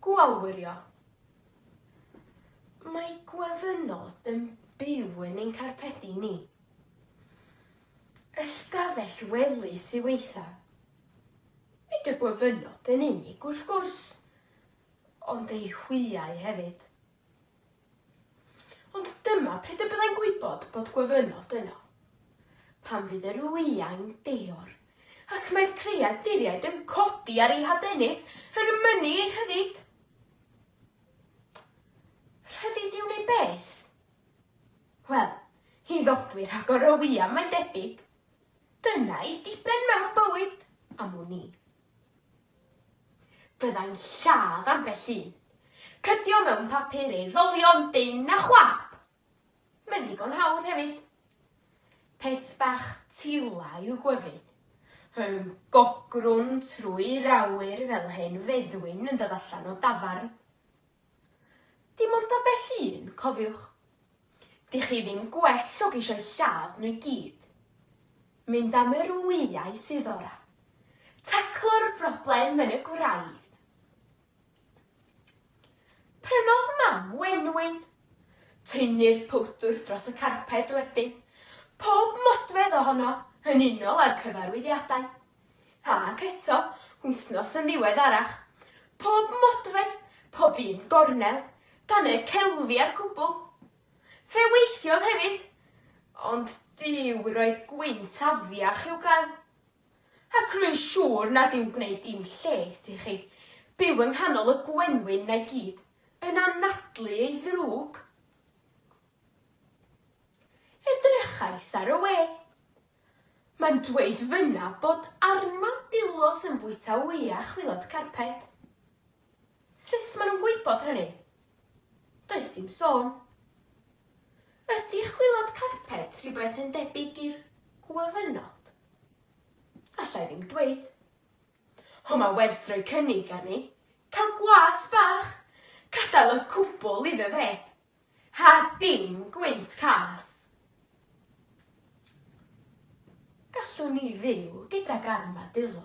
Gwawrio. Mae gwyfynod yn byw yn ein carpedi ni. Ystafell wely sy weitha'. Nid y gwyfynod yn unig wrth gwrs, ond eu hwyau hefyd. Ond dyma pryd y byddai'n gwybod bod gwyfynod yno. Pan fydd yr wyau'n deor, ac mae'r creaduriaid yn codi ar eu hadenydd, yn mynnu eu rhyddid. Rhyddid i wneud beth? Wel, i ddodwy rhagor o wyau, mae'n debyg. Dyna ei diben mewn bywyd, am wn i. Fyddai'n lladd ambell un. Cydio mewn papur ei rolio'n dynn a chwap! Mae'n ddigon hawdd hefyd. Peth bach tila yw gwyfyn. Hym, gogrwn trwy'r awyr fel hen feddwyn yn dod allan o dafarn. Dim ond ambell un, cofiwch. Dych chi ddim gwell o geisio lladd nhw i gyd. Mynd am yr wyau sydd ora. Taclo'r broblem yn y gwraidd. Prynodd mam wenwyn. Tynnu'r powdwr dros y carped wedyn. Pob modfedd ohono yn unol â'r cyfarwyddiadau. Ac eto, wythnos yn ddiweddarach, pob modfedd, pob un gornel, dan y celfi a'r cwbl. Fe weithiodd hefyd, ond Duw, roedd gwynt afiach i'w gael. Ac rwy'n siŵr nad yw'n gwneud dim lles i chi byw yng nghanol y gwenwyn 'na i gyd, yn anadlu ei ddrwg. Edrychais ar y we. Mae'n dweud fynna bod armadillos yn bwyta wya chwilod carped. Sut maen nhw'n gwybod hynny? Does dim sôn. Ydy chwilod carped rhywbeth yn debyg i'r gwyfynod? Alla i ddim dweud. Ho mae werth rhoi cynnig arni. Cael gwas bach! Cadael y cwbl iddo fe! Ha dim gwynt cas. Gallwn ni fyw gydag armadillo.